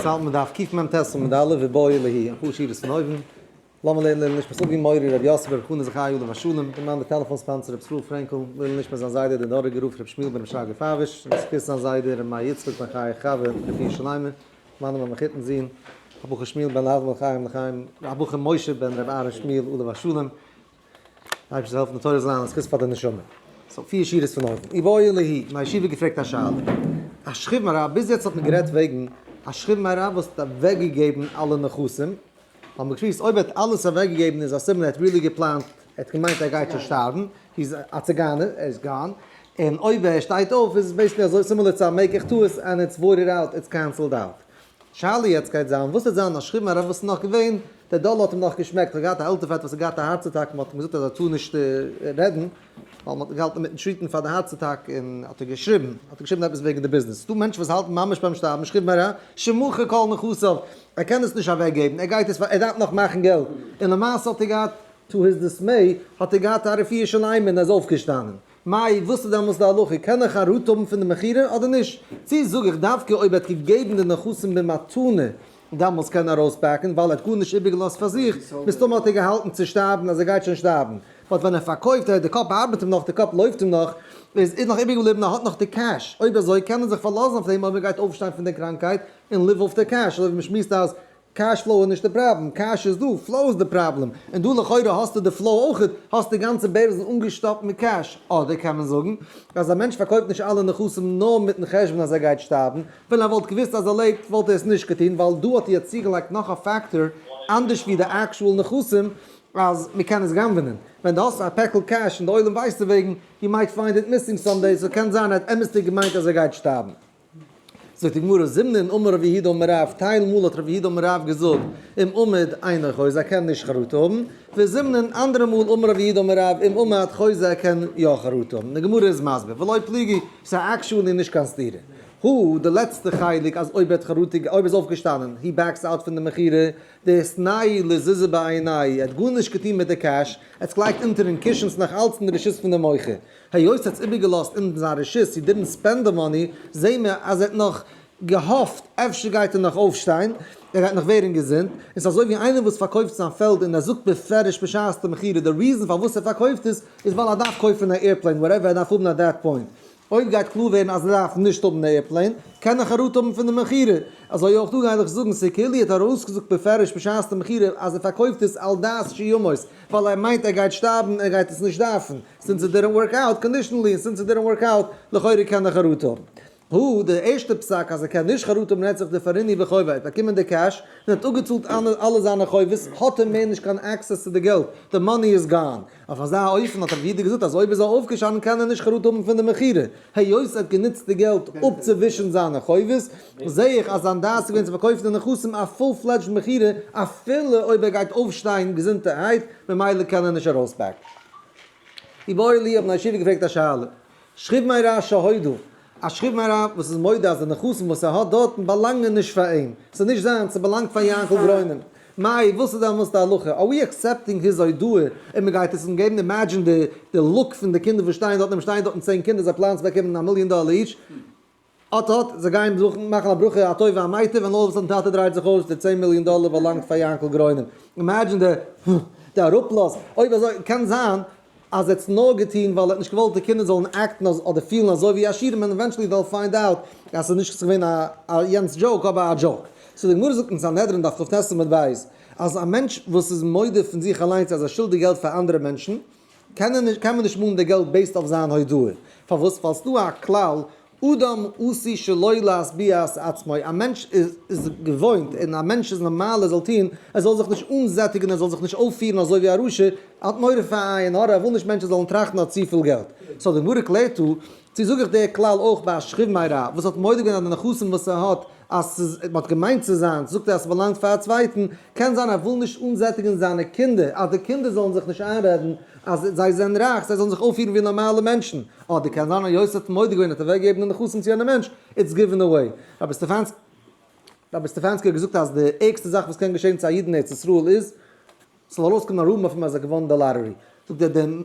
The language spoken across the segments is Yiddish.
צייט מען דארף קוקן ביים טעסל מיט די אלע ובאו אלי ה', אפאר שורות פון אויבן, לאמיר לערנען לעילוי נשמת אבי מורי רבי יוסף רבי חנא זכריהו עליו השלום, דערמאנט די טעלעפאן ספאנסער רבי ישראל פרענקל, לעילוי נשמת זיין זיידע דער דאראגער רב רבי שמואל בן רבי שרגא פאוויש, און זכות זיין זיידע רבי מאיר יצחק בן חיי חוה רפאי שלמה, מיינע מאמע חיתן זון הבחור שמואל בן אדמו ר חיים לחיים, הבחור משה בן רבי אהרן שמואל עליו השלום, אייבערשטער זאל העלפן די תורה זאל זיין א זכות פאר די נשמה. סאו פיר שורות פון אויבן. אי ואויל ליהי, מיין ישיבה האט געפרעגט א שאלה. א שכיב מרע, ביז יעצט האט מען גערעדט וועגן א שכיב מרע וואס האט אוועקגעגעבן אלע נכסים, האט מען געשמועסט אויב ער האט אלעס אוועקגעגעבן איז א סימן ער האט ריעלי געפלאנט, ער האט געמיינט ער גייט שוין שטארבן, היז א ציגאנער, ער איז גאן, און אויב ער שטייט אויף איז עס בעיסיקלי אזוי סימילער צו א מעיק איך טעות ענד איטס וואוטעד אוט, איטס קענסעלד אוט. שאלה יעצט גייט זיין וואס וועט זיין נאשכיבן הרב וואס איז נאך געווען דער דאלער האט אים נאך געשמעקט ער האט געהאט א עלטער פעטער וואס האט געהאט א הארץ אטאק מ'האט אים געזאגט אז ער טאר נישט רעדן ווייל מ'האט געהאלטן אינמיטן טריטן פאר די הארץ אטאק און האט ער געשריבן האט ער געשריבן עפעס וועגן די ביזנעס ס'דא מענטשן וואס האלטן ממש ביים שטארבן נאשכיבן הרב שמחה כל נכסיו ער קען עס נישט אוועק געבן ער גייט עס ער דארף נאך מאכן געלט און למעשה האט ער געהאט טו היז דיסמעי האט ער געהאט א רפואה שלימה און ער איז אויפגעשטאנען. מאי, וואס איז דעמאלס די הלכה? קען איך א ראט האבן פון די מכירה אדער נישט? צו זאג איך דווקא אויב ער האט געגעבן די נכסים במתנה, דעמאלס קען ער ארויספאקן ווייל ער האט גארנישט איבערגעלאזט פאר זיך, מסתמא האט ער געהאלטן צו שטארבן אז ער גייט שוין שטארבן, באט ווען ער פארקויפט און די קאפ ארבעט אים נאך, די קאפ לויפט אים נאך, איז איז נאך איבערגעבליבן ער האט נאך די קעש, אויב אזוי קען מען זיך פארלאזן אויף דעם אויב ער גייט אויפשטיין פון די קראנקייט און ליוו אויף די קעש, אזוי ווי מען שמועסט אז קעש פלאו איז נישט די פראבלעם, קעש איז דא, פלאו איז די פראבלעם, און דא לכאורה האסטו די פלאו אויכעט, האסט די גאנצע בערזל אנגעשטאפט מיט קעש, אדער קען מען זאגן אז א מענטש פארקויפט נישט אלע נכסים נאר מיטן חשבון אז ער גייט שטארבן, ווען ער וואלט געוואוסט אז ער לעבט וואלט ער עס נישט געטון, ווייל דא האט איר צוגעלייגט נאך א פעקטאר אנדערש ווי די עקשועל נכסים אז מען קען עס גנב'נען, ווען די האסט א פעקל קעש און די עולם ווייסט דערוועגן, יו מייט פיינד איט מיסינג סאמדעי, סאו קען זיין ער האט אמת'דיג געמיינט אז ער גייט שטארבן. זאגט די גמרא, זימנין אין אמר רבי יהודה אמר רב, טייל מאל האט רבי יהודה אמר רב געזאגט אם עומד עינו חוזה ער קען נישט חרטה האבן, וזימנין אנדערע מאל אמר רבי יהודה אמר רב אם עומד חוזה ער קען יא חרטה האבן, די גמרא איז מסביר ולא פליגי, סא עקשועלי נישט קיין סתירה, הוא, די לעצטע חלק אז אויב ער האט חרטה אויב ער איז אויפגעשטאנען הי בעקס אוט פון די מכירה, דער סניי לזיזה בעיני, ער האט גארנישט געטון מיט די קעש, ער האט עס געלייגט אונטערן קישן ס'נאך אלץ אין די רשות פון די מוכר. היות ער האט עס איבערגעלאזט אן זיין רשות, הי דידנט ספענד די מאני, זעהן מיר אז ער האט נאך געהאפט אפשר גייט ער נאך אויפשטיין, ער גייט נאך ווערן געזונט, און ס'איז אזוי ווי איינער וואס פארקויפט זיין פעלד און ער זאגט בפירוש בשעת די מכירה די ריזען פארוואס ער פארקויפט עס איז ווייל ער דארף קויפן א עירפלעין וואטעווער ער דארף האבן עט דעט פוינט, אויב גייט קלאר ווערן אז ער דארף נישט האבן די עירפלעין קען איך חרטה האבן פון די מכירה, אזוי אויך דא גיי איך זאגן סעקולי האט ארויסגעזאגט בפירוש בשעת די מכירה אז ער פארקויפט עס על דעת שימות ווייל ער מיינט ער גייט שטארבן ער גייט עס נישט דארפן. סינס איט דידענט ווארק אוט קאנדישענלי און סינס איט דידענט ווארק אוט לכאורה קען ער חרטה האבן. הו די ערשטע פסק אז ער קען נישט חרטה האבן רעדט זיך די פאריני וחובה ער האט באקומען די קעש און האט אפגעצאלט אלע זיינע חובות האט ער מער נישט קיין עקסעס צו די געלט די מאני איז גאן אויף אזא אופן האט רבי יהודה געזאגט אז אויב איז ער אויפגעשאנען קען ער נישט חרטה האבן פון די מכירה היות ער האט גענוצט די געלט אפצוווישן זיינע חובות זעה איך אז זיין דעת איז געווען צו פארקויפן די נכסים א פול פלעדזשד מכירה אפילו אויב ער גייט אויפשטיין געזונטערהייט ממילא קען ער נישט ארויספעקן. איבער אור לי האבן א ישיבה געפרעגט א שאלה. שכיב מי רב שהודו, א שכיב מי רב וואס איז מודה אז די נכסים וואס ער האט דארטן באלאנגען נישט פאר אים, ס'איז נישט זיינס, ס'באלאנגט פאר יענקל גרוינעם. מאי, וואס איז דעמאלס די הלכה? אר ווי עקסעפטינג היז הודאה און מ'גייט עס אים געבן? אימעדזשין די לוק פון די קינדער וואס שטייען דארט, נעם שטייען דארטן צען קינדער, זיי פלאנען צו באקומען א מיליאן דאלער איטש, אט אט, זיי גייען זוכן מאכן א ברכה א טובה א מיטב ווען אויל וואס טאטע דרייט זיך אויס די צען מיליאן דאלער באלאנגט פאר יענקל גרוינעם אימעדזשין די די אראפלאז אויב אזוי קען זיין אז ער האט עס נאר געטון ווייל ער האט נישט געוואלט די קינדער זאלן עקטן אדער פילן אזוי ווי עשירים ענד עווענטשעלי דעל פיינד אוט אז עס איז נישט געווען א יענץ דזשאוק אבער א דזשאוק סאו די גמרא זאגט אין סנהדרין דף כט עמוד ב' אז א מענטש וואס איז מודה פון זיך אליינס אז ער שולדיג געלט פאר אנדערע מענטשן קענען נישט קען מען נישט מאלן די געלט בעיסד אויף זיין הודעה, פארוואס פאלסט דא א כלל אדם עשוי שלא להשביע את עצמו, א מענטש איז געוואוינט און א מענטש איז נארמאל ער זאל טון, ער זאל זיך נישט אנזעטיגן ער זאל זיך נישט אויפפירן אזוי ווי א רשע, ער האט מורא פאר עין הרע ער וויל נישט מענטשן זאלן טראכטן ער האט צופיל געלט, סאו די גמרא קלערט דא צו זאג איך דער כלל אויך ביי א שכיב מי רע וואס האט מודה געווען אז די נכסים וואס ער האט אז ס'איז מען האט געמיינט צו זיינס זאגט ער אז ס'באלאנגט פאר א צווייטן קען זיין ער וויל נישט אנזעטיגן זיינע קינדער אז די קינדער זאלן זיך נישט איינרעדן אז זיי זענען רייך זיי זאלן זיך אויפפירן ווי נארמאלע מענטשן אדער קען זיין היות ער האט מודה געווען האט ער אוועק געגעבן די נכסים צו יענע מענטש איטס גיווען אוועי רבי סטעפאנסקי רבי סטעפאנסקי האט געזאגט אז די ערגסטע זאך וואס קען געשען צו א איד אין ארץ ישראל איז ס'זאל ארויסקומען א רוב מפעם אז ער געוואונען די לאטערי, זאגט ער די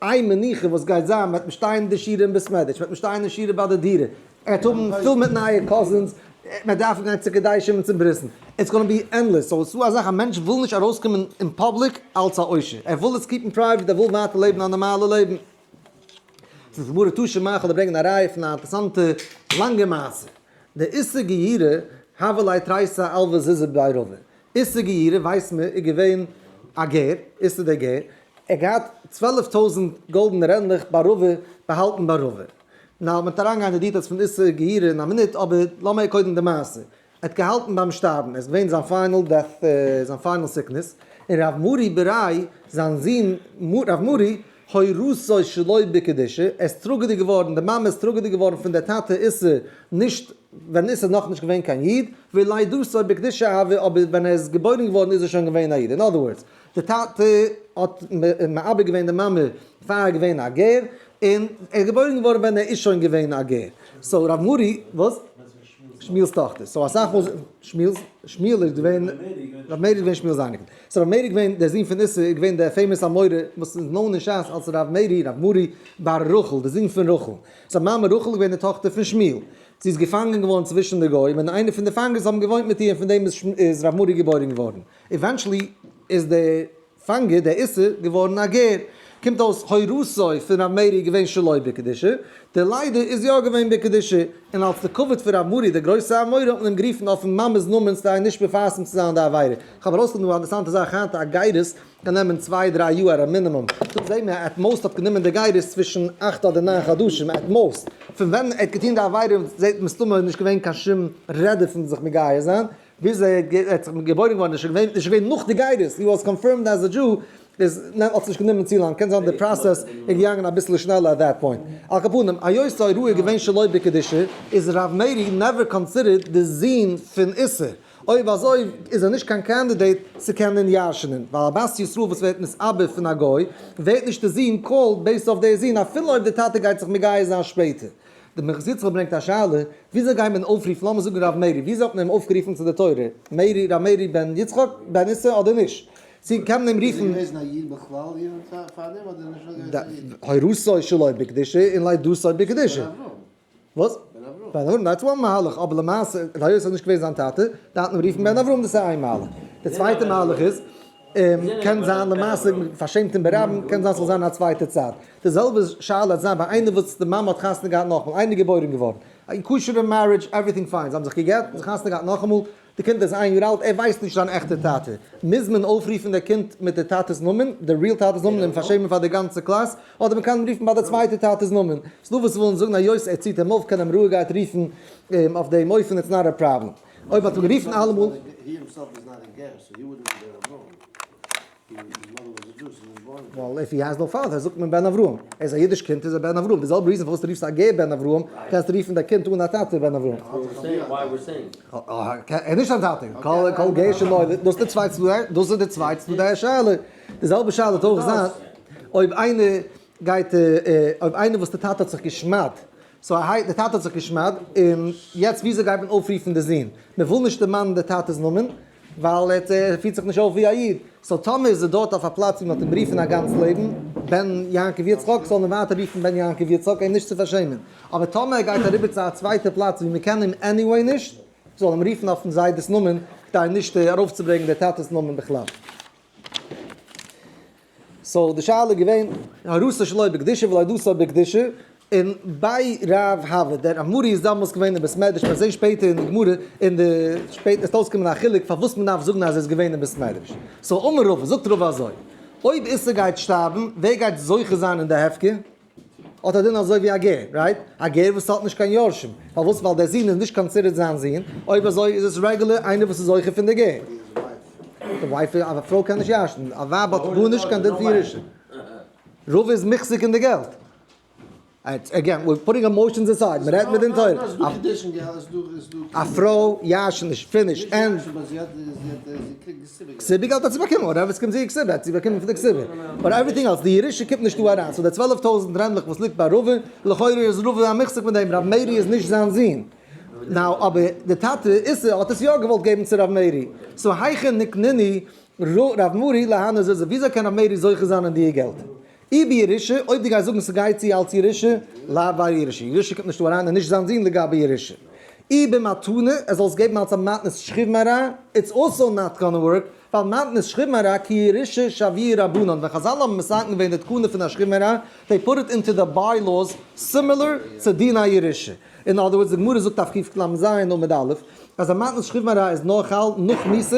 איין מנוחה וואס גייט זיין מען וועט נישט שטיין אין די שירער אין בית מדרש, מען וועט נישט שטיין אין שירער ביי די דירה, ער וועט האבן פול מיט נייע קאזינס, ער וועט דארפן גיין צו קדשים און צו ברית'ן, איטס גאנא בי ענדלעס, סאו ס'דא אזאך א מענטש וויל נישט ארויסקומען אין פאבליק אלץ א עושר, ער וויל עס קיפן פרייוועט, ער וויל ווייטער לעבן א נארמאלע לעבן. ס'איז די גמרא תשע מח אל ברענגען א ראיה פון א אינטערעסאנטע לאנגע מעשה, די איסור גיורא הוה ליה תרייסא אלוה זיזא בעירובין, איסר גיורי ווייסט מען איז געווען א גר, איסר דער גר, ער האט געהאט צוועלף טויזנט גאלדענע רענדלעך ביי רובע, באהאלטן ביי רובע. נאר מ'וועט אריינגיין אין די דיטעלס פון איסר גיורי אין א מינוט, אבער לאמיר קודם די מעשה. ער האט געהאלטן ביים שטארבן, עס איז געווען זיין פיינעל דעט, זיין פיינעל סיקנעס, און ר' מורי בערי' זיין זון ר' מורי הורסו שלא בקדושה, ער איז טראגעדיג געווארן, די מאמע איז טראגעדיג געווארן פון דער טאטע איסר נישט ווען איז ער נאך נישט געווען קיין איד, ולידתו בקדושה אהבה, אבער ווען ער איז געבוירן געווארן איז ער שוין געווען א איד, אין אדער ווארדס, די טאטע האט מעביר געווען די מאמע פאר ער איז געווען א גר, און ער איז געבוירן געווארן ווען ער איז שוין געווען א גר, סאו ר' מורי, וואס? שמואל'ס טאכטער, סאו אסאך מאל שמואל'ס, שמואל איז געווען, ר' מאיר איז געווען שמואל'ס אייניקל, סאו ר' מאיר איז געווען דער זון פון איסר, איז געווען דער פעימאס אמורא וואס איז נאון אין שס אלס ר' מאירי, ר' מורי, בר רחל, די זון פון רחל. זיין מאמע רחל איז געווען די טאכטער פון שמואל. זי איז געפאנגען געווארן צווישן די גוים, און איינער פון די פאנגערס האבן געוואוינט מיט איר, און פון דעם איז איז ר' מארי געבוירן געווארן. עווענטשעלי איז דער פאנגער, דער איסר, געווארן א גר. קומט אויס הוראתו פון ר' מאירי איז געווען שלא בקדושה, דער ליידער איז יא געווען בקדושה, און אלס די כבוד פון ר' מארי דער גרויסע אמורא האט מען אים גערופן אויפן מאמע'ס נאמען כדי נישט מפרסם צו זיין די עבירה. כ'האב ארויסגעפונען א אינטערעסאנטע זאך היינט א גיידעס גענומען צוויי דריי יאר א מינימום, דא זעהן מיר עט מאוסט האט גענומען די גיידערס צווישן אכט אדער ניין חדשים עט מאוסט, פון ווען ער האט געטון די עבירה זעהט מסתמא איז נישט געווען קיין שום רעדע פון זיך מגייר זיין, ביז ער האט זיך געבוירן געווארן איז שוין געווען איז שוין געווען נאך די גיידערס הי וואס קאנפירמד עז א דזשו, איז נעמט האט נישט גענומען צו לאנג קען זיין די פראסעס איז געגאנגען אביסל שנעלער עט דעט פוינט, על כל פנים היות אורו איז געווען שלא בקדושה איז ר' מאירי נעווער קאנסידערט די זוהן פון איסר. אויב אזוי איז ער נישט קיין קענדידעיט צו קענען ירש'נען, ווייל א בת ישראל וואס ווערט נתאבד פון א גוי, ווערט נישט די זון קאלד בעיסד אויף דער זון אפילו אויב די טאטע גייט זיך מגייר זיין שפעטער. די מחזור זכר ברענגט א שאלה, וויאזוי גייט מען אויפרופן לאמיר זאגן ר' מאירי, וויאזוי האט מען אים אויפגערופן צו די תורה, מאירי, ר' מאירי בן יצחק, בן איסר אדער נישט? צו קען מען אים רופן? איז ער געוועזן א איד בכלל יענעם צייט פארדעם אדער נישט געוועזן א איד? הורתו שלא בקדושה און לידתו בקדושה. וואס? בן אברהם. בן אברהם דעטס וואן מהלך, אבער למעשה היות עס איז נישט געווען זיין טאטע דארף מען רופן בן אברהם דאס איז איין מהלך, די צווייטע מהלך איז קען זיין למעשה פארשעמט אים ברבים קען זיין ס'זאל זיין א צווייטע צד, די זעלבע שאלה האט זיין ביי איינער וואס די מאמע האט חתונה געהאט נאכמאל, איינער געבוירן געווארן, א כשר'ע מערידזש עווריטינג פיין, זיי האבן זיך געגעט און זיך חתונה געהאט נאכאמאל, די קינד איז איין יאר אלט, ער ווייסט נישט זיין עכטע טאטע, מוז מען אויפרופן די קינד מיט די טאטעס נאמען, די ריעל טאטעס נאמען און פארשעמען פאר די גאנצע קלאס, אדער מען קען רופן ביי די צווייטע טאטעס נאמען, ס'איז דא וואס ווילן זאגן היות ער ציט אים אויף קען אים רואיגערהייט רופן אים אויף דעם אופן איטס נאט א פראבלעם, אויב האט מען גערופן אלעמאל. ווייל איף הי הייזט נאו פאטער זאגט מען בן אברהם, ער איז א אידיש קינד איז ער בן אברהם, די זעלבע ריזען פארוואס די רופסט א גר בן אברהם, קענסט רופן די קינד אן א טאטע בן אברהם. ער איז נישט דיין טאטע, כל גר שנולד, דאס איז די צוויי צדדי השאלה, די זעלבע שאלה וועט אויך זיין אויב איינער גייט אויב איינער וואס די טאטע האט זיך גע'שמד, סאו א די טאטע האט זיך גע'שמד, און יעצט וויאזוי גייט מען אויפרופן די זון, מען וויל נישט דערמאנען די טאטע'ס נאמען, ווייל ער פירט זיך נישט אויף ווי א איד. סאו טאמער איז ער דארט אויף א פלאץ ווי מען האט אים גערופן א גאנץ לעבן בן יעקב יצחק, זאל מען ווייטער רופן בן יעקב יצחק אים נישט צו פארשעמען. אבער טאמער ער גייט אריבער צו א צווייטע פלאץ ווי מען קען אים עניוועי נישט, זאל אים רופן אויפן זיידעס נאמען כדי נישט ארויפצוברענגען דער טאטעס נאמען בכלל. סאו די שאלה איז געווען הרסה שלא בקדושה ולא דסא בקדושה, און ביי ר' הבר דער אמרי איז דאמאלס געווען אין בית מדרש, מ'וועט זען שפעטער אין די גמרא, אין די שפעט עס וועט אויסקומען א חילוק פארוואס מ'דארף זאגן אז ער איז געווען אין בית מדרש, סאו אמר רבא, זאגט רבא אזוי, אויב איסר גייט שטארבן, ווער גייט זוכה זיין אין די הפקר? האט א דין אזוי ווי א גר, רייט? א גר וואס האט נישט קיין יורשים, פארוואס? ווייל דער זון איז נישט קאנסידערט זיין זון, אויב אזוי איז עס רעגולער איינער וואס איז זכר פון די גר. די ווייב, א פרוי קען נישט ירש'ן, א ווייב האט גארנישט קיין דין פון ירושה, רוב איז מחזיק אין די געלט. אגעין, וויר פוטינג עמאושענס אסייד, מען רעדט מדין תורה. א פרוי ירש'ט נישט, פיניש, ענד. כסדר געלט האט זי באקומען, און רוב עסקים זעהן כסדר האט זי באקומען פון די כסדר, באט עווריטינג עלס, די ירושה קומט נישט דא אריין, סאו די צוועלף טויזנט רענדלעך וואס ליגט ביי רובא, לכאורה איז רובא א מחזיק פון דעם, ר' מאירי איז נישט זיין זון, נאו, אבער די טאטע איסר האט עס יא געוואלט געבן צו ר' מאירי, סאו היכן נקניני ר' מאירי להנא זז, וויאזוי קען ר' מאירי זוכה זיין אין דיע געלטער, אי בירושה, אויב דו גייסט זאגן ס'גייט צו אלץ ירושה, לאו ביי ירושה, ירושה קומט נישט דא אריין, איז נישט זיין דין לגבי ירושה. אי במתנה, ער זאל עס געבן אלץ א מתנת שכיב מרע, איטס אלסאו נאט גאנע ווארק, ווייל מתנת שכיב מרע כי ירושה שביעי רבנן, ווען חזל האבן מסכם געווען די תקנה פון א שכיב מרע, דעי פוט איט אינטו די ביי לאוס סימילער צו דין א ירושה. אין אדער ווארדס די גמרא זאגט אויף קכ למ ז עמוד א', אז א מתנת שכיב מרע איז נאר חל נאך מיתה,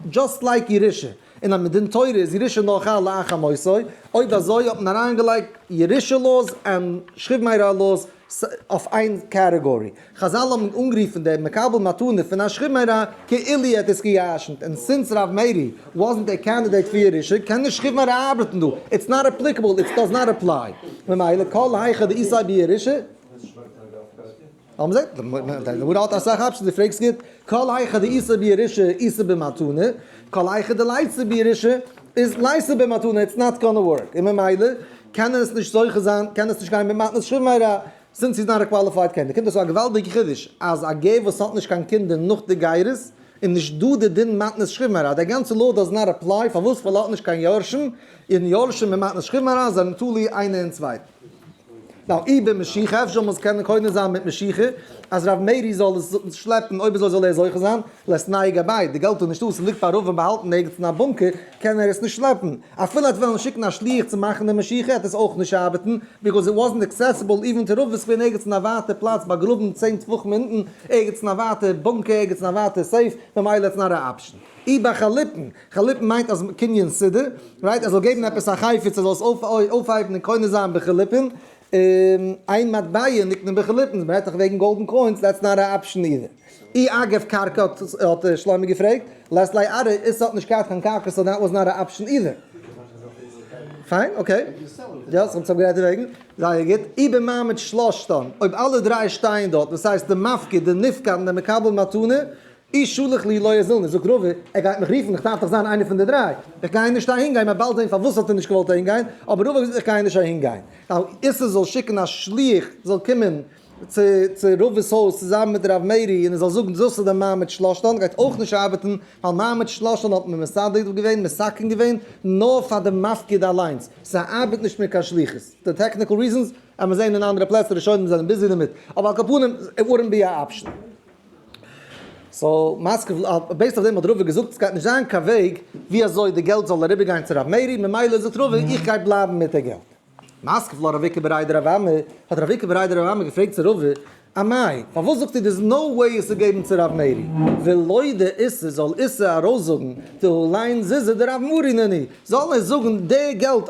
דזשאסט לייק ירושה. און אז מדין תורה איז ירושה נאר חל לאחר מותו, אויב אזוי האט מען אריינגעלייגט ירושה לאו'ס און שכיב מרע לאו'ס אויף איין קעטעגארי. חזל האבן אנגערופן דעם מקבל מתנה פון א שכיב מרע כאילו ער האט עס גע'ירש'נט, און סינס ר' מאירי וואזנט א קענדידעיט פאר ירושה קען נישט שכיב מרע ארבעטן דא, איטס נאט אפליקעבל, איטס דאז נאט אפליי. ממילא כל היכא דאיסאי בירושה. אבער מען זעט אז די גמרא האט אסאך אפשענס, דו פרעגסט גוט, כל הייכא דאיסור בירושה איסור במתנה, כל הייכא דלייצר בירושה איז לייצר במתנה, איטס נאט גאנע ווארק, און ממילא קען ער עס נישט זוכה זיין, קען עס נישט גיין במתנת שמערה, סינס היז נאט א קוואליפייד קענדידעט, קומט אויס א געוואלדיגע חידוש, אז א גר וואס האט נישט קיין קינדער נאך די גירות, איז נישט דא די דין מתנת שמערה, די גאנצע לאו דאז נאט עפליי, פארוואס? ווייל ער האט נישט קיין יורשים, און יורשים און מתנת שמערה זענען תלוי איינער אין צווייטן. נאר איבער משיחה, אפשר זאל מען עס קענען קונה זיין מיט משיחה, אז ר' מאירי זאל עס שלעפן, אויב אזוי זאל ער זוכה זיין, לעת נאי גבאי, די געלט איז נישטא, ס'ליגט פארהאפן באהאלטן ערגעץ אין א בונקער, קען ער עס נישט שלעפן, אפילו עטס וועלן שיקן א שליח צו מאכן די משיחה וועט עס אויך נישט ארבעטן, ביזקוז איט וואזנט עקסעסיבעל איווען טו רובוס געווען ערגעץ אין א ווייטע פלאץ באגראבן צען טפחים אונטן, ערגעץ אין א ווייטע בונקער, ערגעץ אין א ווייטע סעיף, ממילא איטס נאט א אפשן. איבער חלוטין. חליפן מיינט אז קניון סידור, רייט, ער זאל געבן עפעס א חפץ ער זאל עס אויפהייבן און קונה זיין בחליפין, איין מטבע נקנה בחליפין, מען רעדט דאך וועגן גאלדן קוינס, דעטס נאט א אפשן אידער. אי אגב קרקע האט שלומי געפרעגט, לעת לעת עתה איז ס'האט נישט געהאט קיין קרקע סאו דעט וואס נאט א אפשן אידער. פיין אקעי. יא ס'האט זיך גערעדט דערוועגן. זייער גוט. אי במעמד שלושתם, אויב אלע דריי שטייען דארט, דאס הייסט די מפקיד, די נפקד און די מקבל מתנה, איז שלח לי לאה זילנער, זאגט רובי, ער גייט מיך רופן, איך דארף דאך זיין איינער פון די דריי, איך גיי נישט אהין גיין, מען וועט באלד זען פארוואס האט ער נישט געוואלט אהין גיין, אבער רובי האט געזאגט איך גיי נישט אהין גיין, ווייל איסר זאל שיקן א שליח זאל קומען צו צו רובי'ס הויז צוזאמען מיט הרב מאירי און ער זאל זאגן דאס איז די מעמד שלשלן, גייט אויך נישט ארבעטן, ווייל מעמד שלשלן האט מען מסדר געווען, מסכם געווען, נאר פאר די מפקד אליינס, ס'ארבעט נישט מיט קיין שליחות, די טעקניקל ריזענס, עמער זען אין אנדערע פלעצער, ראשונים זענען ביזי דערמיט, אבער על כל פנים, איט וואודענט בי א אפשן. סאו מאסקוו בעיסד אויף דעם האט רוביא געזאגט עס גייט נישט זיין קיין וועג ווי אזוי די געלט זאל אריבער גיין צו ר' מאירי ממילא זאגט רוביא איך גיי בלייבן מיט די געלט. מאסקוו לא רבקה בריידא רב עמר האט רבקה בריידא רב עמר געפרעגט צו רוביא א מאי פארוואס זאגט איר דער איז נאו וועי עס צו געבן צו ר' מאירי ווען לויט די איסור זאל איסר ארויס זאגן די הוליין זיזע די רב מאירי נ נ זאל ער זאגן די געלט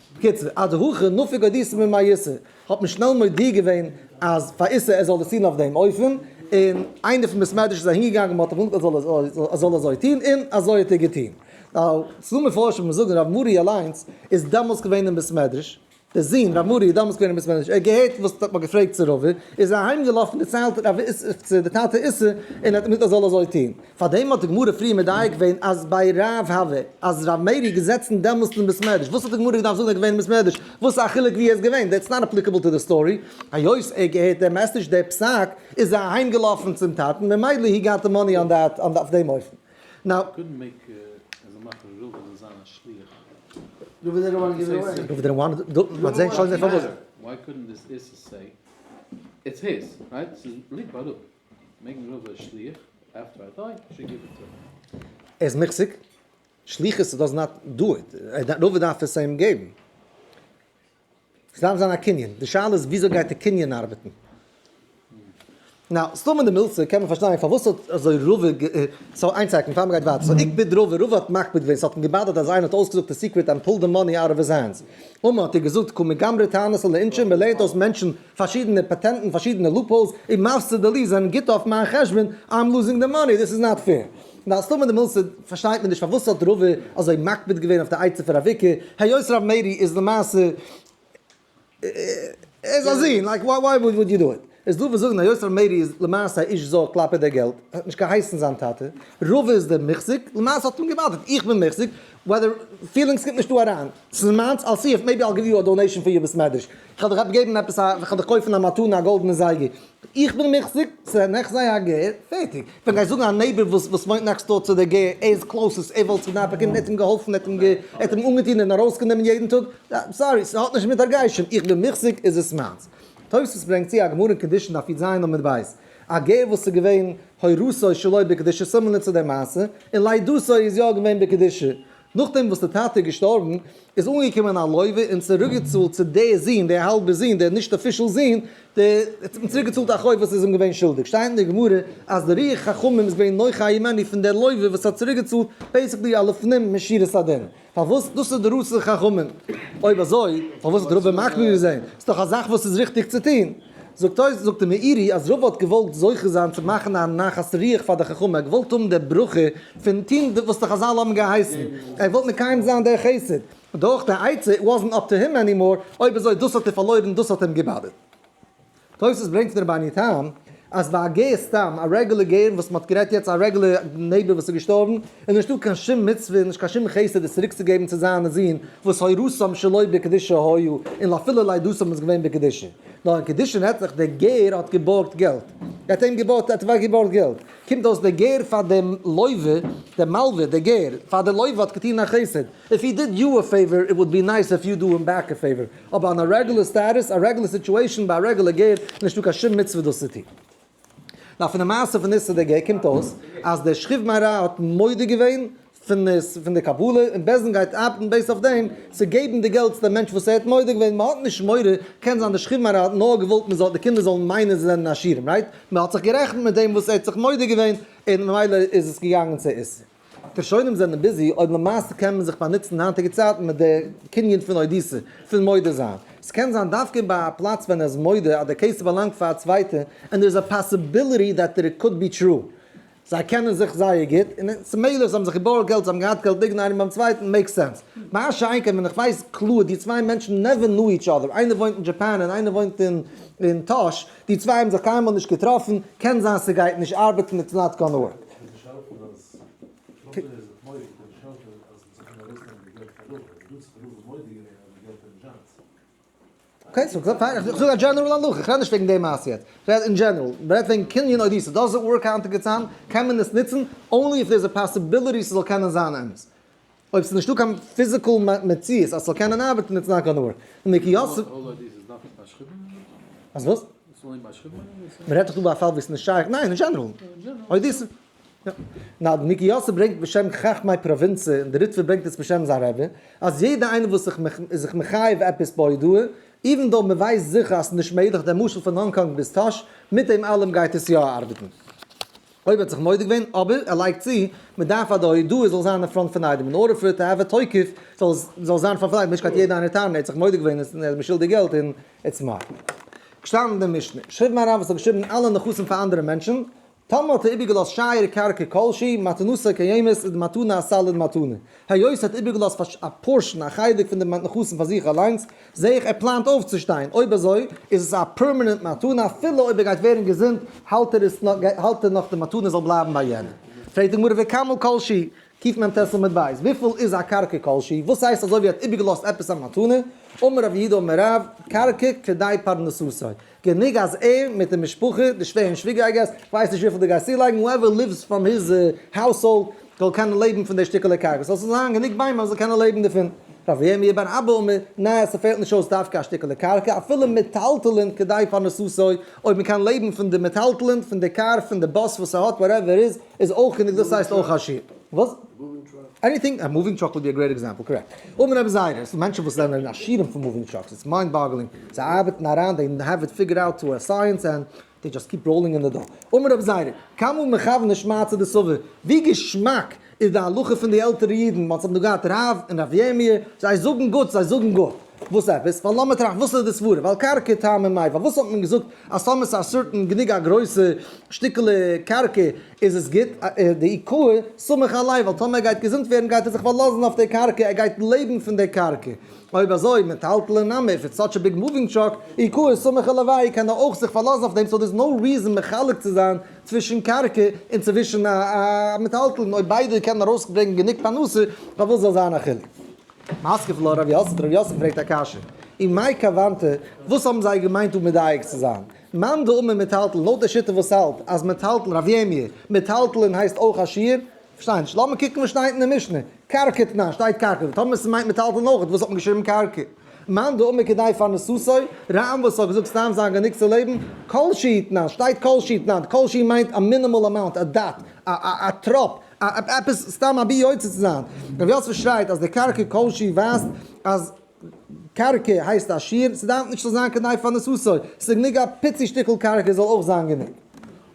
בקיצור, הדרכא נפיקא דיסא ממעיסא, האט מען שנעל מודיע געווען אז פאר איסר ער זאל דאס טון אויף דעם אופן, און איינער פון בית מדרש איז אהינגעגאנגען מען האט אים געזאגט ער זאל אזוי טון און אזוי האט ער געטון, ס'איז דא מפרשים וואס זאגן רב מרי אליינס איז דאמאלס געווען אין בית מדרש, דער זון רב מרי איז דאמאלס געווען אין בית מדרש, ער האט געהערט וואס מען האט געפרעגט צו רבי, איז ער אהיימגעלאפן דערציילט רב איסר צו די טאטע איסר און ער האט אים געזאגט ער זאל אזוי טון. פאר דעם האט די גמרא פריער מדייק געווען אז ביי רב ה ו אז רב מאיר איז געזעצן דעמאלסט אין בית מדרש וואס האט די גמרא געדארפט זאגן ער איז געווען אין בית מדרש וואס א חילוק ווי ער איז געווען דעטס נאט אפליקעבל טו די סטארי היות ער געהערט דעם מעסעדזש דער פסק איז ער אהיים געלאפן צום טאטן ממילא הי גאט די מאני אן דעט אן אויף דעם אופן נאו מעגן רוב איז שליח, עפטער איי דיי, איי שוד גיוו איט טו הים. ער איז מוחזק, שליחות דאז נאט דא איט, רוב דארף עס אים געבן. ס'דארף זיין א קנין, די שאלה איז וויאזוי גייט די קנין ארבעטן. נאו, סתם אין די מילתא קען מען פארשטיין פארוואס האט אזוי רוב, סאו איין סעקאנד פאר מ'גייט ווייטער, סאו עקפיד רוב, רוב האט מקפיד געווען, ס'האט אים געבאדערט אז איינער האט אויסגעזאגט די סיקרעט ענד פולד די מאני אוט אוו היז הענדס, און מ'האט איר געזאגט קומי גמרי תענית על העונשין, מ'לערנט אויס מענטשן. פארשידענע פעטענטן, פארשידענע לופהאולס, און מפסיד די ליז זענען גוט אויף מיין חשבון, איים לוזינג די מאני, דיס איז נאט פעיר. און אז טאמער די מוסד, פארשטייט מען נישט פארוואס האט רא ו אזוי מקפיד געווען אויף די עצה פון ר' אביקי, היות ר' מאירי איז למעשה, ער איז א זון, לייק וואי וואי וואד יו דא איט. איז דא וואס זאגן היות ר' מאירי איז למעשה א איש זר כלפי די געלט, ער האט נישט געהייסן זיין טאטע, רא ו איז דער מחזיק, למעשה האט אים געבאדערט איך בין מחזיק, ווייל די פילינגס קומט נישט דא אריין, ס'איז מיינס, אל סי איף מעיבי אל גיוו יו א דאנעישן פאר יער בית מדרש. כ'על דיך געבן עפעס א, כ'על דיך קויפן א מתנה א גאלדענע זייגער, איך בין מיך זיבצען, איך זיי א גר, פערטיג, ווען גייסט זאגן א נייבער וואס וואס וואוינט נעקסט דאר צו די גר, ער איז קלאוסעסט, ער וואלט געדארפט באקומען, ער האט אים געהאלפן, ער האט אים גע, ער האט אים אנגעטון און ארויס גענומען יעדן טאג, סארי, ס'האט נישט מיט הרגשים, איך בין מיך זיג איז עס מיינס. תוס' ברענגט צו א גמרא אין קדושין דף יט ז עמוד ב', א גר וואס איז געווען הורסו שלא בקדושה, סימן לצו די מעשה, און לידתו איז יא געווען בקדושה, נאכדעם וואס די טאטע איז געשטארבן איז אנגעקומען א לוי' און צוריקגעצאלט צו די זון די האלבע זון די נישט אפישעל זון די האט אים צוריקגעצאלט א חוב וואס איז אים געווען שולדיג שטייט אין די גמרא אז די רוח חכמים איז געווען נוחה הימני פון די לוי' וואס האט צוריקגעצאלט בעיסיקלי א לפנים משירת הדין פארוואס דאס איז די רצון חכמים אויב אזוי פארוואס האט רבא מקפיד געווען ס'איז דאך א זאך וואס איז ריכטיג צו טון. זאגט אויס זאגט די מאירי אז רבא האט געוואלט זוכה זיין צו מאכן א נחת רוח פאר די חכמים, ער האט געוואלט האבן די ברכה פון טון וואס די חזל האבן געהייסן, ער האט געוואלט מקיים זיין דער חסד, און דאך די עצה it wasn't up to him anymore, אויב אזוי דאס האט ער פארלוירן דאס האט אים געבאדערט. תוס' ברענגט פון רבני תם אז ביי א גר סתם א רעגולער גר וואס מען האט גערעדט יעצט א רעגולער נעיבער וואס איז געשטארבן, איז נישטא קיין שום מצוה און נישט קיין שום חסד עס צוריק צו געבן צו זיינע זין וואס הוראתם שלא בקדושה היו און אפילו לידתם איז געווען בקדושה נאר אין קידושין הערט זיך דער גר האט געבארגט געלט ער האט אים געבארגט ער האט אוועק געבארגט געלט קומט אויס דער גר פאר דעם לוה דער מלווה דער גר פאר דער לוה האט געטון א חסד איף הי דיד יו א פעיווער איט וואלד בי נייס איף יו דו הים בעק א פעיווער אבער אן א רעגולער סטעטוס א רעגולער סיטועשאן ביי א רעגולער גר איז נישטא קיין שום מצוה דאס צו טון. נאר פון די מעשה פון איסר די גר קומט אויס אז דער שכיב מהר א האט מודה געווען פון די קבלה און בעז ה גייט ארבעטן בעיסד אויף דעם צו געבן די געלט צו די מענטש וואס ער האט מודה געווען מען האט נישט מורא קען זיין דער שכיב מהר א האט נאר געוואלט מען זאל די קינדער זאלן מיינען זיי זענען עשירים רייט מען האט זיך גערעכנט מיט דעם וואס ער האט זיך מודה געווען און ממילא איז עס געגאנגען צו איסר. די שונאים זענען ביזי אויב למעשה קען מען זיך באנוצן אין היינטיגע צייטן מיט די קנין פון אודיסע, פון מודה זיין. עס קען זיין דווקא ביי א פלאץ ווען ער איז מודה אז די קעיס באלאנגט פאר א צווייטע און דער איז א פאסיביליטי דעט דעט איט קאוד בי טרו. זיי קענען זיך זייער גוט און עס איז מעגליך זיי האבן זיך געבארגט געלט זיי האבן געהאט געלט ליגן איינער ביים צווייטן מעיק סענס. מה שאין כן ווען איך ווייס קלאר די צוויי מענטשן נעווער נו איטש אדער איינער וואוינט אין דזשאפאן און איינער וואוינט אין טאהש די צוויי האבן זיך קיינמאל נישט געטראפן, קען זיין ס'גייט נישט ארבעטן איטס נאט גאנע ווארק. אקעי סאו פיין איך זאג א דזשענעראל הלכה, איך רעד נישט וועגן די מעשה יעצט, איך רעד אין דזשענעראל, מ'רעדט וועגן קנין אויב די ס'איז דא זאגאר קאנטעקט געצייל קען מען עס נוצן אנלי איף דער איז א פאסיביליטי ס'זאל קענען זיין אמת. אויב ס'איז נישטא קיין פיזיקעל מציאות אז ס'זאל קענען ארבעטן איטס נאט גאנא ווארק. אז וואס? מ'רעדט דאך דא ביי א פאל וואו ס'איז נישט שייך, ניין אין דזשענעראל. נאר די ניקי יאסעלע ברענגט בשם חכמי פראווינצע און די ריטוויער ברענגט עס בשם זיין רבי, אז יעדע איינער וואס זיך איז זיך מחייב עפעס בהודאה, איווען דאו מ'ווייסט זיכער אז ס'נישט מעגליך, דער משל פון האנג קאנג ביז טאהש, מיט דעם אלעם גייט עס יא ארבעטן. אויב ער האט זיך מודה געווען, אבער ער לייגט צו, מען דארף אז די הודאה זאל זיין אין פראנט פון איידעם, אין ארדער פאר איט טו העוו א תוקף, זאל זאל זיין אין פראנט פון איידעם, נישט קייט יעדע איינער טענה'ן ער האט זיך מודה געווען און ער איז משולדיג געלט און איטס מאר. געשטאנען אין די משנה. שרייבט מיין רב וואס האט געשריבן אלע נכסים פאר אנדערע מענטשן, טאמער האט ער איבערגעלאזט שעיר קרקע כלשהי, מתנותו קיימת, איז די מתנה אסאליד מתנה, היות ער האט איבערגעלאזט א פארשן, א חלק פון די נכסים פאר זיך אליינס, זע איך ער פלאנט אויפצושטיין, אויב אזוי איז עס א פערמענענט מתנה, אפילו אויב ער גייט ווערן געזונט האלט ער עס האלט ער נאך די מתנה זאל בלייבן ביי יענעם. פרעגט די גמרא וכמה כל שי, קיט מ ט עמוד ב', וויפיל איז א קרקע כל שי, וואס הייסט אזוי ווי ער האט איבערגעלאזט עפעס א מתנה, אמר רבי יהודה אמר רב, קרקע כדי פרנסתו, גענוג אז ער מיט די משפחה, די שווער און שוויגער איי געס, כ'ווייס נישט וויפיל די גייסט צולייגן, הואעווער ליווס פראם היז האוזהאלד, זאל קענען לעבן פון די שטיקעלע קרקע, ס'זאל זיין גענוג ביימער אז ער זאל קענען לעבן דערפון. ר' ירמי' בן אבא אומר, ניין, ס'פעלט נישט אויס דווקא א שטיקעלע קרקע, אפילו מיטאלטלענד כדי פרנסתו, אויב מ'קען לעבן פון די מיטאלטלענד, פון די קאר, פון די באס וואס ער האט, וואטעווער איז, איז אויך גענוג דאס הייסט אויך א שיעור. וואס? עניטינג? א מאווינג טראק וואלט בי א גרעיט עקזעמפל, קארעקט. אן רעב זיידע, ס'איז מענטשן וואס זענען עשירים פון מאווינג טראקס, איטס מיינד באגלינג, זיי ארבעטן אריין, דעי העוו איט פיגערד אוט טו א סייענס ענד דעי דזשאסט קיפ ראולינג אין די דאו. אן רעב זיידע, קיינמאל מכוון נישט מאי צו די סבר, ווי געשמאק איז די הלכה פון די עלטערע אידן, מ'האט זיי נאר געהאט רב און רב ירמי', זיי זאגן גוט, זיי זאגן גוט. וואס עפעס? ווייל לאמיר טראכטן, וואס איז די סברה? ווייל קרקע טעם אין מייווא, פארוואס האט מען געזאגט אז טאמער ס'איז א סורטן גענוג א גרויסע שטיקעלע קרקע איז עס גוט? די עיקור סומך עליו, ווייל טאמער ער גייט געזונט ווערן גייט ער זיך פארלאזן אויף די קרקע, ער גייט לעבן פון די קרקע. אויב אזוי, מטלטלין נמי, איף איטס סאטש א ביג מאווינג טראק, עיקור סומך עליו איי קען ער אויך זיך פארלאזן אויף דעם, סאו דער'ס נאו ריזן מחלק צו זיין צווישן קרקע און צווישן א מטלטלין, אויב ביידע קענען ארויסברענגען גענוג פרנסה, פארוואס זאל זיין א חילוק? משכיל לר' יוסף, דער ר' יוסף פרעגט א קשיא, און מאי כוונתא, וואס האבן זיי געמיינט דא מדייק צו זיין? מאן דאמר מיטאלטלן, לויט דער שיטה וואס האלט אז מיטאלטלן, רב יעמיע, מיטאלטלן הייסט אויך א שיעור? כ'פארשטיי נישט, לאמיר קוקן וואס שטייט אין די משנה, קרקע תנא, שטייט קרקע, און טאמער ס'מיינט מיטאלטלן אויך, וואס האט מען געשריבן קרקע? מאן דאמר כדי פרנסתו, רמ וואס האט געזאגט סתם זיין גענוג צו לעבן, כל שהיא תנא, שטייט כל שהיא תנא, כל שהיא מיינט א מינימאל אמאונט, א דאט, א טראפ, עפעס סתם אבי יוצא צו זיין. ר' יוסף שרייט אז די קרקע כל שהיא ווייזט אז קרקע הייסט א שיעור, ס'דארף נישט צו זיין כדי פאר נשוא, ס'איז גענוג א פיצי שטיקל קרקע זאל אויך זיין גענוג.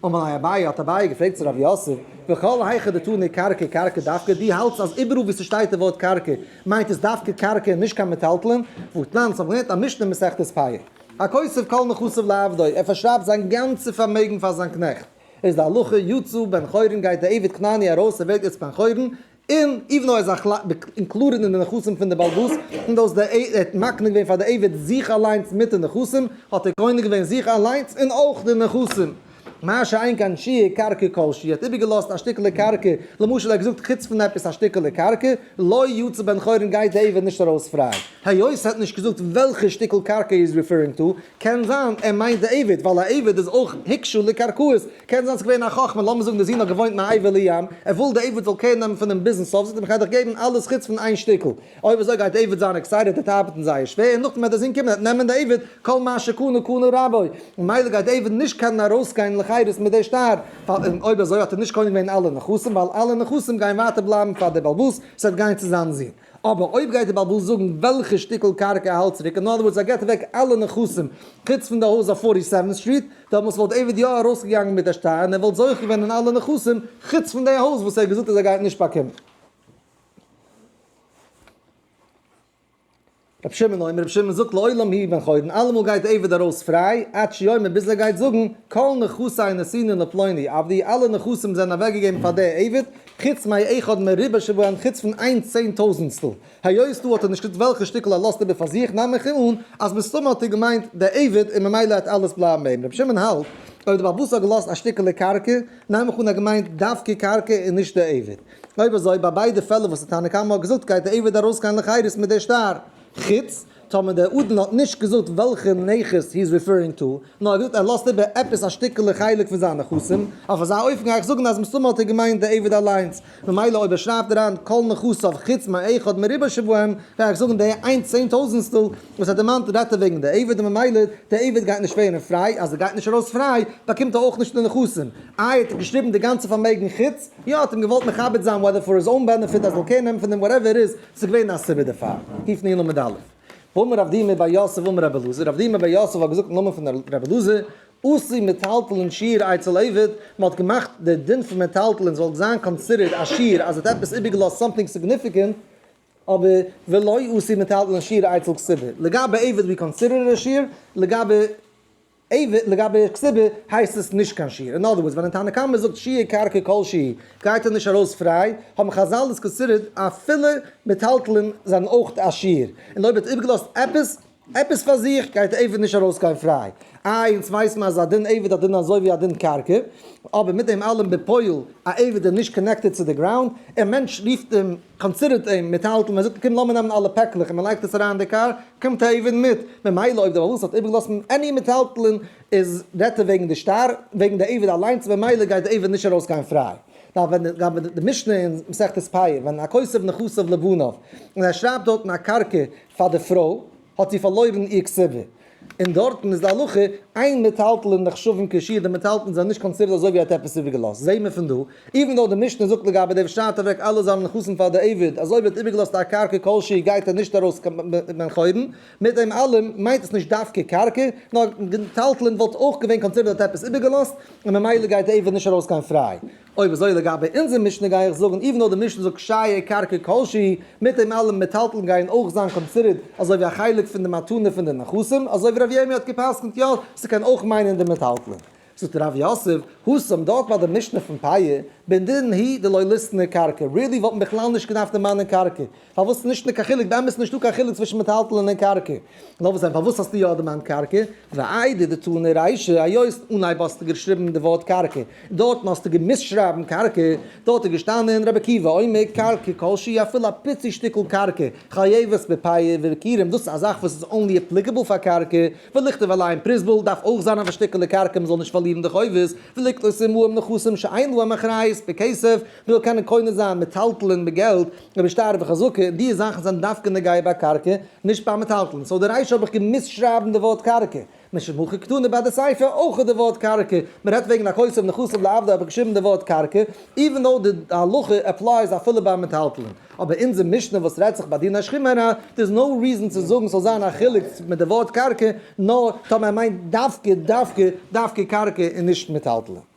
אמר ליה אביי, האט אביי געפרעגט צו ר' יוסף, וכל היכא דתני קרקע קרקע דווקא, דו האלטסט אז איבעראל וואו ס'שטייט די ווארט קרקע מיינט עס דווקא קרקע און נישט קיין מיטאלטלען, ואתנן, אונז האבן געלערנט א משנה מסכת פאה, הכוסף כל נכסיו לעבדו, ער פארשרייבט זיין גאנצע פארמעגן פאר זיין קנעכט. איז די הלכה יצא בן חורין גייט די עבד כנעני ארויס ער ווערט יצא בן חורין און איווען דאו ער איז א כלל אינקלודעד אין די נכסים פון די בעל בת'ס איווען דאו ער האט מקנה געווען פאר די עבד זיך אליינס מיט די נכסים האט ער קונה געווען זיך אליינס און אויך די נכסים מה שאין כאן שיעור קרקע כל שיעור ער האט איבערגעלאזט א שטיקעלע קרקע למשל ער האט געזאגט חוץ פון עפעס א שטיקעלע קרקע לא יצא בן חורין גייט די עבד נישט ארויס פריי היות ער האט נישט געזאגט וועלכע שטיקל קרקע ער איז ריפערינג טא קען זיין ער מיינט די עבד, ווייל א עבד איז אויך הקשו לקרקעות, קען זיין ס'איז געווען א חכם, לאמיר זאגן די זון האט געוואוינט מעבר לים, ער וויל די עבד זאל קעיר נעמען פון אים ביזן סוף, זאגט אים איך גיי דיך געבן אלעס חוץ פון איין שטיקל, אויב אזוי גייט עבד זיין עקסייטעד, ער וועט ארבעטן זייער שווער, און נאכדעם וועט די זון קומען ער וועט נעמען די עבד, כל מה שקנה קנה רבו, ממילא גייט די עבד נישט קענען ארויסגיין לחירות מיט די שטר, און אויב אזוי האט ער נישט קונה געווען אלע נכסים, ווייל אלע נכסים גייען ווייטער בלייבן פאר די בעל בת'ס, ס'וועט גיין צו זיין זון. אבער אויב גייט די בעל הבית זאגן וועלכע שטיקל קרקע ער האלט צוריק, אין אנדער ווארדס ער גיבט אוועק אלע נכסים חוץ פון די הויז אויף פארטי סעווענט סטריט, דעמאלטס וואלט עיוועד יא ארויסגעגאנגען מיט די שטר און ער וואלט זוכה געווען אין אלע נכסים חוץ פון די הויז וואס ער האט געזאגט אז ער גייט נישט באקומען. רבי שמעון אומר, רבי שמעון זאגט לעולם הי' בן חורין, אלעמאל גייט די עבד ארויס פריי, עד שיאמר ביז ער גייט זאגן, כל נכסי נשאין לפלוני עבדי, אלע נכסים זענען אוועקגעגעבן פאר די עבד, חוץ מאי אחד מריבע שבעין חוץ פון איין צען טויזענסטל, היות דא האט ער נישט וועלכע שטיקל ער לאזט איבער פאר זיך, נעם איך אן אז מסתמא האט ער געמיינט די עבד און ממילא העט אלעס בלייבן אים, רבי שמעון האלט, אויב די בעל הבית האט געלאזט א שטיקעלע קרקע, נעם איך אן ער האט געמיינט דווקא קרקע און נישט די עבד. אויב אזוי ביי ביידע פעלער וואס די תנא קמא האט געזאגט גייט די עבד ארויסגיין לחירות מיט די שטר, חוץ טאמער דער אדון האט נישט געזאגט וועלכע נכס הי איז ריפערינג טא, נאר ער האט געזאגט ער לאזט איבער עפעס א שטיקעלע חלק פון זיין נכסים, אויף אזא אופן גיי איך זאגן אז מסתמא האט ער געמיינט די עבד אליינס, ממילא אויב ער שרייבט אריין כל נכסיו חוץ מה אחד מריבו שבהם גיי איך זאגן די איין צען טויזענסטל וואס ער דערמאנט רעדט ער וועגן די עבד און ממילא די עבד גייט נישט ווערן פריי, אז ער גייט נישט ארויס פריי באקומט ער אויך נישט די נכסים, איי האט ער געשריבן די גאנצע פארמעגן חוץ. יא האט אים געוואלט מכבד זיין וועדער פאר היז אוין בענעפיט אז זאל קעיר נעמען פון דעם וואטעווער איט איז, ס'איז געווען א סיבה דערפאר, היפ נעיל מיט די אלף. ואמר רב דימא בר יוסף אמר רבי אלעזר, רב דימא בר יוסף האט געזאגט אין נאמען פון רבי אלעזר, אסור מיטאלטעלען שיעור אצל עבד, מען האט געמאכט דער דין פון מיטאלטעלען זאל זיין קאנסידערט א שיעור אז ער האט עפעס איבער געלאזט סאמטינג סיגניפיקענט, אבער ולא אסור מיטאלטעלען שיעור אצל כסדר, לגבי עבד ווי קאנסידערט ער א שיעור, לגבי. עיוות, לגבי כסדר הייסט עס נישט קיין שיעור, אין אדער ווארדס ווען די תנא קמא זאגט שיעור קרקע כל שהיא גייט ער נישט ארויס פריי, האבן חזל דאס געסודר'ט אפילו מיטאלטלען זענען אויך א שיעור, און אויב ער האט איבערגעלאזט עפעס עפעס פאר זיך גייט די עיוות נישט ארויסגיין פריי, איי אונז ווייס מען אז א דין עיוות א דין אזוי ווי א דין קרקע, אבער מיט דעם אלעם בפועל א עיוות איז נישט קאנעקטעד צו די גראונד, און מענטש רופט אים. קאנסידערט אים מיטהאלטן, מען זאגט אים קום לאמיר נעמען אלע פעקלעך און מען לייגט עס אריין אין די קאר, קומט א עבד מיט, ממילא אויב די בעל הבית האט איבערגעלאזט עני מיטהאלטלען איז רעדט ער וועגן די שטר, וועגן די עבד אליינס ממילא גייט די עבד נישט ארויס גיין פריי. לגבי די משנה אין מסכת פאה, ווען א כסף נכסיו לבניו, און ער שרייבט דארטן א קרקע פאר די פרוי, האט זי פארלוירן איר כסבה, און דארטן איז די הלכה איין מיטהאלטלען נחשבים כשיעור, די מיטהאלטלען זענען נישט קאנסידערט אזוי ווי האט עפעס איבערגעלאזט, זעהט מען פון דא, איווען דאו די משנה זאגט לגבי דעם שטייט אוועק אלע זיינע נכסים פאר די עבד, אז אויב ער האט איבערגעלאזט א קרקע כל שהיא גייט ער נישט ארויס קיין בן חורין, מיט דעם אלעם מיינט עס נישט דווקא קרקע, נאר מיטהאלטלען וואלט אויך געווען קאנסידערט האט עפעס איבערגעלאזט, און ממילא גייט די עבד נישט ארויס קיין פריי. אויב אזוי לגבי אונזער משנה גיי איך זאגן איווען דאו די משנה זאגט שייע קרקע כל שהיא, מיט דעם אלעם מיטאלטען גייען אויך זיין קאנסידערט אזוי ווי א חלק פון די מתנה פון די נחשים, אזוי ווי ר' ירמי' האט געפסקנט יא, ס'קען אויך מיינען די מיטאלטלען. זאגט ר' יוסף, הוסם, דארט ביי די משנה פון פאיע, בנדינן הי' דלא ליסטנה קרקע, ריעלי וואלט מען בכלל נישט געדארפט דערמאנען קרקע, פארוואס נישט נישט קיין חילוק, באמת איז נישטא קיין חילוק צווישן מיטהאלטלען און קרקע, נאר וואס דען פארוואס האסטו יא דערמאנט קרקע, ואיידע די טענה ריישא, היות אנהייב האסטו געשריבן די ווארט קרקע, דארטן האסטו געמוזט שרייבן קרקע, דארט איז געשטאנען רבי עקיבא אומר קרקע כלשהי אפילו א פיצי שטיקל קרקע, חייבת בפייער ובכירים, דאס איז א זאך וואס איז אנלי עפליקעבל פאר קרקע, ולכתוב א ליין פריסבול דארף אויך זיין אויף א שטיקעלע קרקע מען זאל נישט פארלירן די חובות, ולקנות עמהם נכסים שאין להם אחריות בכסף, כ'וויל קענען קונה זיין מיטאלטלען מיט געלט, רבי שטייער וחזקה, און דיע זאכן זענען דווקא נוגע ביי קרקע, נישט ביי מיטאלטלען, סאו די ריישא האב איך געמוזט שרייבן די ווארט קרקע. משמחה קטנה ביי די ספר אויך איז די ווארט קרקע, מען רעדט וועגן הכסף נכסיו לעבדו האב איך געשריבן די ווארט קרקע, איווען דאו די הלכה עפלייס אפילו ביי מיטאלטלען. אבער אונזער משנה וואס רעדט זיך ביי דין השכימה ר, דער איז נאו ריזען צו זאגן ס'זאל זיין א חילוק מיט די ווארט קרקע, נאר טאמער ער מיינט דווקא דווקא דווקא קרקע און נישט מיטאלטלען.